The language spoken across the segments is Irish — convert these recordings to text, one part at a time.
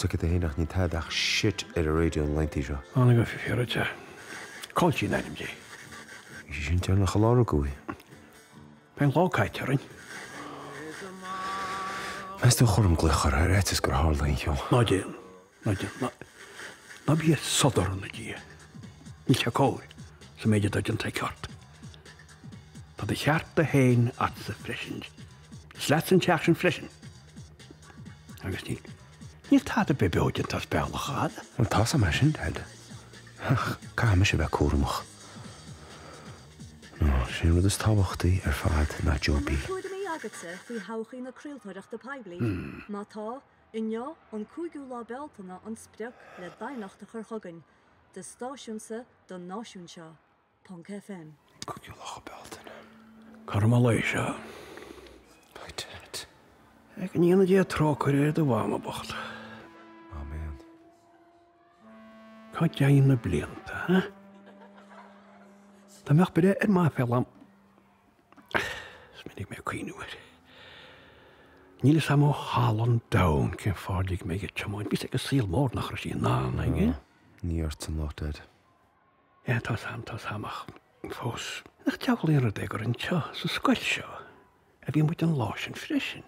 Tiocfaidh tú fhéin ach níl tada ach shit ar an raidió na laethantaí seo. Tháinig an fir te. Caitlín ab ainm di. Bhí sí sin tearnach a lár agua í. Bhí an lá caite orainn. Meas tú an gcuirfinn glaoch uirthi ar fhaitíos gur tharla aon cheo? Ná déan. Ná déan na. Ná bí ag sodar ina diaidh. Níl sé cóir, is an méid atá déanta aici ort. Tá do chearta féin agatsa freisin. Is leatsa an teach sin freisin. Agus níl. Níl tada ar bith beo déanta as bealach agat. Bhuel, tá's agam é sin, Dad. Ach caithfidh mise a bheith cúramach. Nó, sin an rud is tábhachtaí ar fad, ná Joe B. tuairimí agatsa faoi thodhchaí na craoltóireachta poiblí? Má tá, Inniu, an cúigiú lá Bealtaine, an sprioc le d'aighneacht a chur chugainn. Do stáisiúnsa don náisiún seo. Ponc FM. An cúigiú lá Bealtaine. Cothrom an lae seo. By dad. Go ndéana Dia trócaire ar do Mhama bhocht. Amen. Cá dtéann na blianta, huh? Dá mbeadh breith ar m'aiféala. Is minic mé ag cuimhniú air. Níl fhios a'm ó thalamh an domhain cén fáth ar lig mé ag tiomáint, bhí fhios ag an saol mór nach raibh sí in ann aige. Ní ortsa an locht, Dad. Ea, tá's a'm, tá's a'm, ach fós. Nach diabhlaí an rud é gur anseo, sa scoil seo, a bhí muid an lá sin freisin.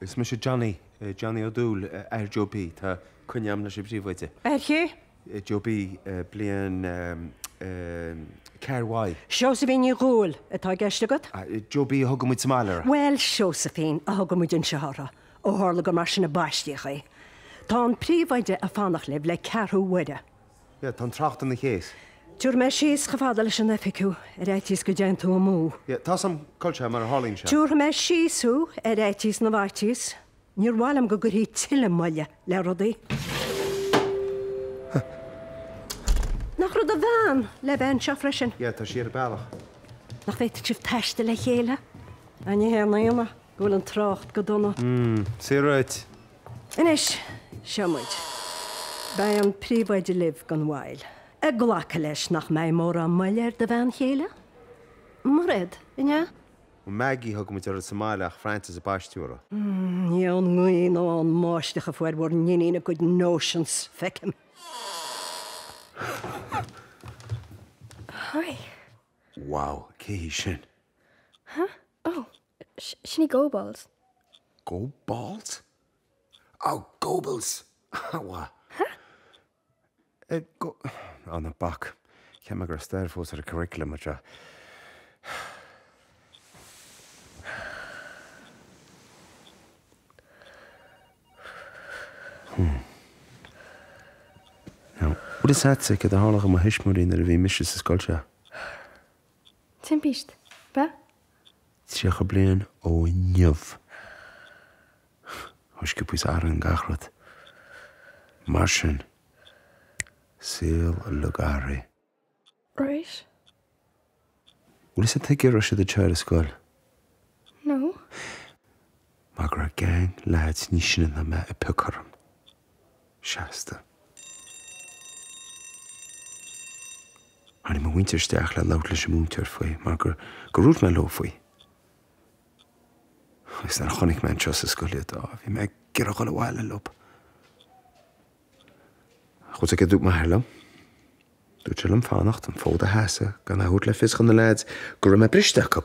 Is mise Johnny, Johnny Ó Dúill, athair Joe B. Tá coinne agam leis an bpríomhoide. Athair cé? Joe B, Bliain 4 Y. Seosaimhín Ní Dhúill atá i gceist agat? Joe B a thugann muid sa mbaile uirthi. Bhuel, Seosaimhín a thugann muid anseo uirthi, ó tharla gur mar sin a baistíodh í. Tá an príomhoide ag fanacht libh le ceathrú uaire. Yeah, tá an trácht ina chaos. Tabharfaidh mé síos chomh fada leis an oifig thú, ar fhaitíos go dtéann tú amú. Yeah, tá's a'm cá bhfuil sé, mar a tharlaíonn sé. Tabharfaidh mé síos thú, ar fhaitíos na bhfaitíos. Níor mhaith liom go gcuirfí tuilleadh moille le rudaí. Nach raibh do bhean le bheith anseo freisin? Yeah, tá sí ar a bealach. Nach bhféadfadh sibh taisteal le chéile? Á, ní haon ionadh go bhfuil an trácht go dona. Mm, saothraithe duit. Anois, seo muid. Beidh an príomhoide libh gan mhoill. Ag glacadh leis nach mbeidh mórán moille ar do bhean chéile? Mairéad, an ea? Maggie a thugann muid uirthi sa mbaile ach Frances a baisteadh uirthi. Ní ón ngaoth nó ón mbáisteach a fuair bhur n-iníon a cuid notions, feicim. Hi. Wow, cé hí sin? Huh? Oh. Sin í Goebbels. Goebbels? Oh, Goebbels! Ahh, mhaith. Ha? Eh, Go-. Ná bac. Cheap mé go raibh stair fós ar an curriculum anseo. Hmm. Bhfuil fhios a'tsa céard a tharla do mo thuismitheoirí nuair a bhí mise sa scoil seo? timpist báid. 30 bliain ó inniu. Thúisce píosa araon gach rud. Mar sin, saol le garraí. Rois? Bhfuil fhios a'd tuige a raibh siad ag teacht ar scoil? No. Mar go raibh geaing leaids níos sine ná mé ag piocadh orm. Seasta. Tháinig mo mhuintir isteach le labhairt leis an múinteoir faoi, mar gur dhúirt mé leo faoi. Agus nuair a chonaic mé anseo sa scoil iad, á, bhí mé ag iarraidh dhul abhaile leo. Ach rud éigin a dúirt m'athair liom. Dúirt sé liom fanacht, an fód a sheasamh, gan a thabhairt le fios do na leaids go raibh mé briste acu.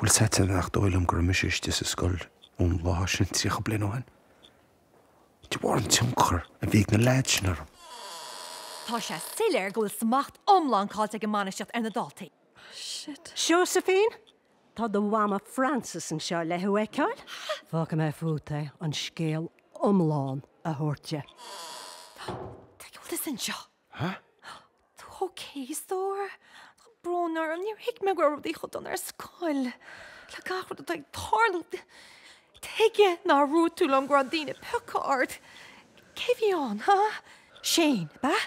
Bhfuil fhios a'd nach dóigh liom go raibh mise istigh sa scoil ón lá sin tríocha bliain ó shin, de bharr an tionchar a bhí ag na leaids sin orm. Tá sé soiléir go bhfuil smacht iomlán caillte ag an mbainistíocht ar na daltaí. Josephine, tá do mhama Frances anseo le thú a fheiceáil. Fágfaidh mé fút é an scéal iomlán a thabhairt di. Tá eolas anseo. Hah? Huh? OK, stór. Tá brón orm, níor thuig mé go raibh rudaí chomh dona ar scoil. Le gach rud atá ag tarlú, tuige nár dhúirt tú liom go raibh daoine ag piocadh ort? Cé a bhí ann, huh? Shane, ab ea?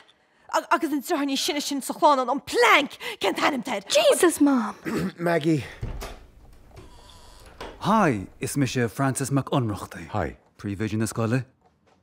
Agus an deartháir níos sine sin sa chlann, an, an Plank, cén t-ainm atá air? Jesus, Mom! Maggie! Hi, is mise Francis Mac Ionnrachtaigh. Hi. Príomhoide na scoile.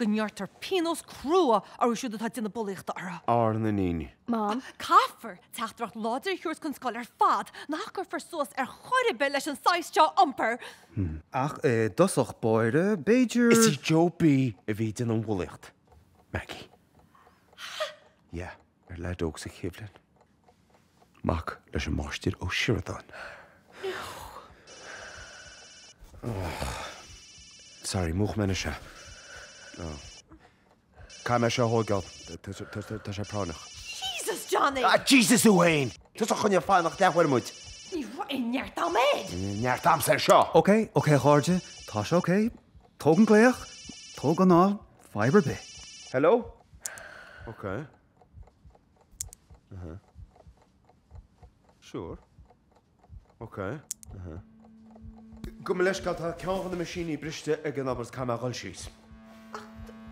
go ngearrtar pionós crua orthu siúd atá ag déanamh bulaíochta ar ár n-iníon. Mom. Caithfear teachtaireacht láidir a thabhairt don scoil ar fad nach gcuirfear suas ar chor ar bith leis an saghas seo iompair. Ach i dtosach báire, b'fhéidir. Is í Joe B a bhí ag déanamh an bhulaíocht. Maggie. Yeah. Ar leaid óg sa chéad bhliain. Mac leis an Máistir Ó Sioradáin. Sorry, múch mé na sea. Caithfidh mé seo a thógáil. Tá sé práinneach. Jesus, Johnny! Ah, Jesus thú fhéin! Tusa a choinnigh ag fanacht leathuair muid. Ní raibh aon neart a'm air! Neart a'msa air seo! OK, OK, a chairde, tá sé OK. Tóg an glaoch, tóg anall, fadhb ar bith. Hello? OK. Uh-huh. Sure. OK. Uh-huh. Gabh mo leithscéal, tá ceann de na meaisíní briste ag an obair, caithfidh mé a dhul síos. Ach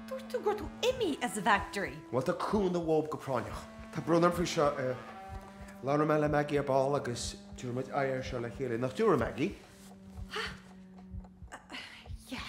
dúirt tú go raibh tú imithe as an bhfactory. Bhuel, tá cúnamh uathub go práinneach. Tá brón orm faoi seo. Eh, labhróidh mé le Maggie ar ball agus tabharfaidh muid aghaidh air seo le chéile, nach dtabharfaidh, a Maggie? Ha! Yeah.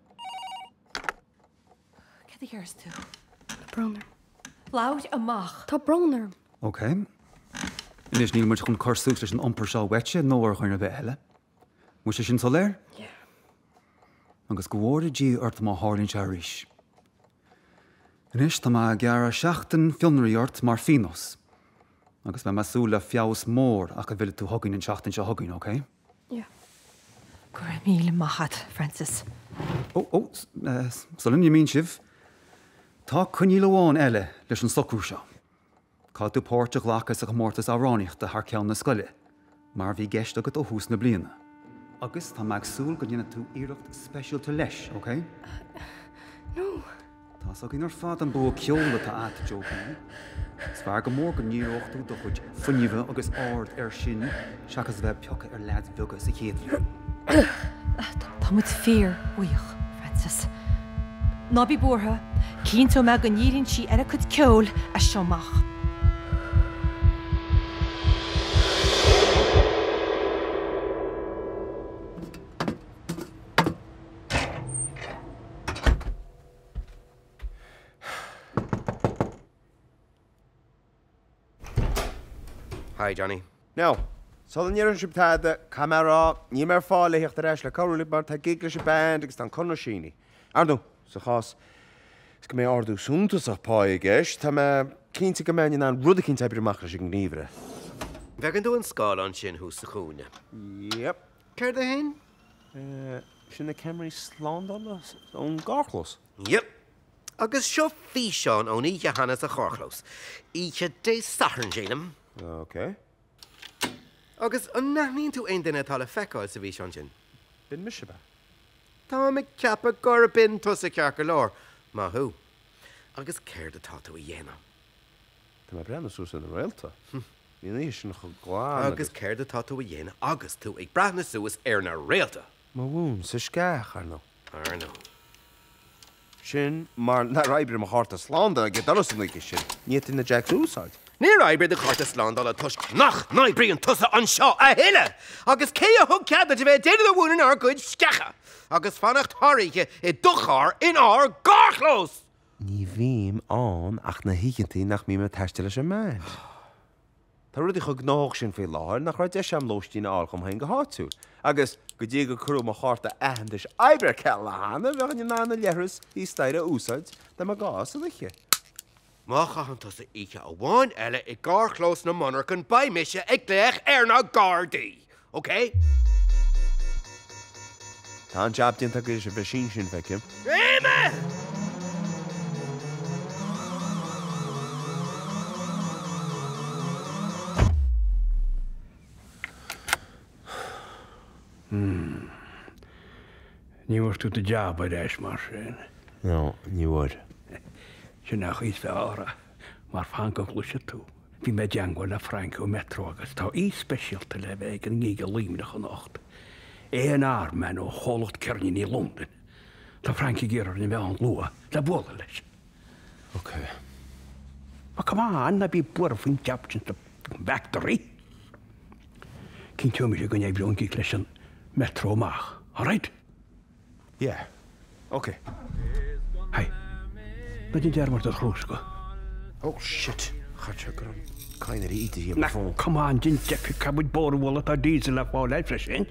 Cad a dhéarfas tú? Tá brón orm. Labhair amach! Tá brón orm. Ok. Anois, níl muid chun cur suas leis an iompar seo uaitse nó ó dhuine ar bith eile. An bhfuil sé sin soiléir? Yeah. Agus go bhfóire Dia ort má tharlaíonn sé arís. Anois, tá mé ag gearradh seachtain fionraí ort mar phíonós. Agus beidh mé ag súil le feabhas mór ach a bhfillfidh tú chugainn an seachtain seo chugainn, ok? Go raibh míle maith agat, Frances. Oh, oh, sula n-imíonn sibh, tá coinníoll amháin eile leis an socrú seo. Caithfidh tú páirt a ghlacadh sa chomórtas amhránaíochta thar ceann na scoile, mar a bhí i gceist agat ó thús na bliana. Agus tá mé ag súil go ndéanfaidh tú iarracht speisialta leis, okay? No! Tá's againn ar fad an bua ceoil atá a't Joe B. Is fearr go mór go ndíreoidh tú do chuid fuinnimhe agus aird air sin seachas a bheith ag piocadh ar leaids bheaga sa chéad bhliain. Tá muid fíorbhuíoch, Frances. Ná bí buartha, cinnteoidh mé go ndíríonn sí ar a cuid ceoil as seo amach. Hi, Johnny. Now, sula ndeireann sibh tada, caithfidh mé a rá, níl mé ar fáil le theacht ar ais le cabhrú libh mar tá gig leis an band agus tá an conradh sínithe. Ar ndóigh, sa chás is go mbeidh ardú suntasach páí i gceist, tá mé cinnte go mbeinn in ann rud eicínt a oibriú amach leis an ngníomhaire. An bhfeiceann tú an scáileán sin thuas sa chúinne? Yep. Céard é sin? Sin iad na ceamaraí slándála ón gcarrchlós. Yep. Agus seo físeán ón oíche chéanna sa charrchlós. Oíche Dé Sathairn, sílim. OK. Agus an n-aithníonn tú aon duine atá le feiceáil sa bhfíseán sin? B'in mise, ab ea? Táim ag ceapadh gur b'in tusa ceart go leor. Maith thú. Agus céard atá tú a dhéanamh? Táim ag breathnú suas ar na réalta. Agus céard atá tú a dhéanamh agus tú ag breathnú suas ar na réalta? Mo mhún sa sceach, ar ndóigh. Ar ndóigh. Sin mar nár oibrigh mo chárta slándála ag an doras an oíche sin. Ní fhéadfainn na jacks a úsáid. Níor oibrigh do chárta slándála toisc nach n-oibríonn tusa anseo a thuilleadh! Agus cé a thug cead duit a bheith ag déanamh do mhúin inár gcuid sceacha? Agus fanacht thar oíche i do charr inár gcarrchlós! Ní bhím ann ach na hoícheantaí nach mbím ag taisteal leis an mbean. Tá rudaí chomh gnóthach sin faoi láthair nach raibh deis agam lóistín a fháil dom féin go háitiúil, agus go dtí gur cuireadh mo chárta aitheantais oibre ar ceal cheana, bhí mé in ann an leithreas thíos staighre a úsáid, dá mba gá san oíche. Má chaitheann tusa oíche amháin eile i gcarrchlós na monarchan beidh mise ag glaoch ar na Gardaí! OK! Tá an jab déanta agus bhí sé sin feicim. Réidh me! Ní bhfuair tú do jab ar ais mar sin. No, ní bhfuair. Sin a bhí sa rá, mar fan go gcloisfidh tú. Bhí mé i dteangmháil le Frainc ón Metro agus tá aoi speisialta le bheith ag an ngig i Luimneach anocht, Eoin Arman ó chomhlacht ceirníní i Londain. Tá Frainc ag iarraidh orainn a bheith ann luath le bualadh leis. Okay. But come on, ná bí buartha faoin jab sin sa bhfactory. Cinnteoidh mise go n-oibreoidh an gig leis an Metro amach, alright? Yeah. Ok. Hi. Beidh an dearmhad ar chrús go. Oh shit! Chait sé gram. Cain ar íde dhíom ar fón. Come on, din deifir, cad muid bór bhfuil atá diesel le fáil air freisin?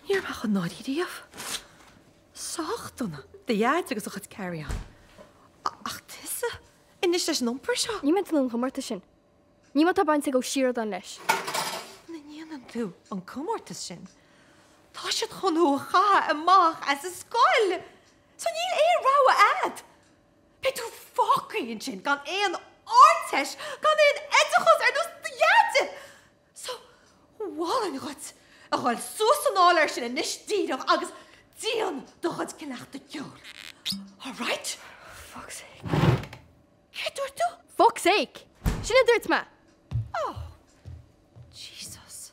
Níor bheadh i ndáiríre riamh. Sách dona do Dhaid agus a chuid carry-on. Ach tusa? Anois leis an iompar seo! Ní mé 'déanamh an comórtas sin. Ní má tá baint ag Ó Sioradáin leis. Muna ndéanann tú an comórtas sin, tá siad chun thú a chaitheamh amach as an scoil! So níl aon rogha a'd! Beidh tú fágtha ansin gan aon Ardteist, gan aon oideachas ar nós do Dhaid! Is maith an plean dhuit a dhul suas san áiléar sin anois díreach agus déan do chuid cleachtadh ceoil. All right? Fuck's sake. Céard dúirt tú? Fuck's sake! Sin a dúirt mé! Oh. Jesus.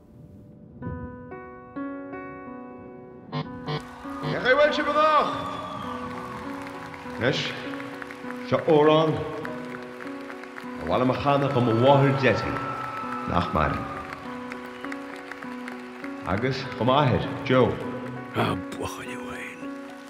Cén chaoi a bhfuil sibh anocht? Anois, seo amhrán ab áil liom a chanadh do mo mháthair Jessie, nach maireann, agus do m'athair, Joe. A bhuachaillí bhail!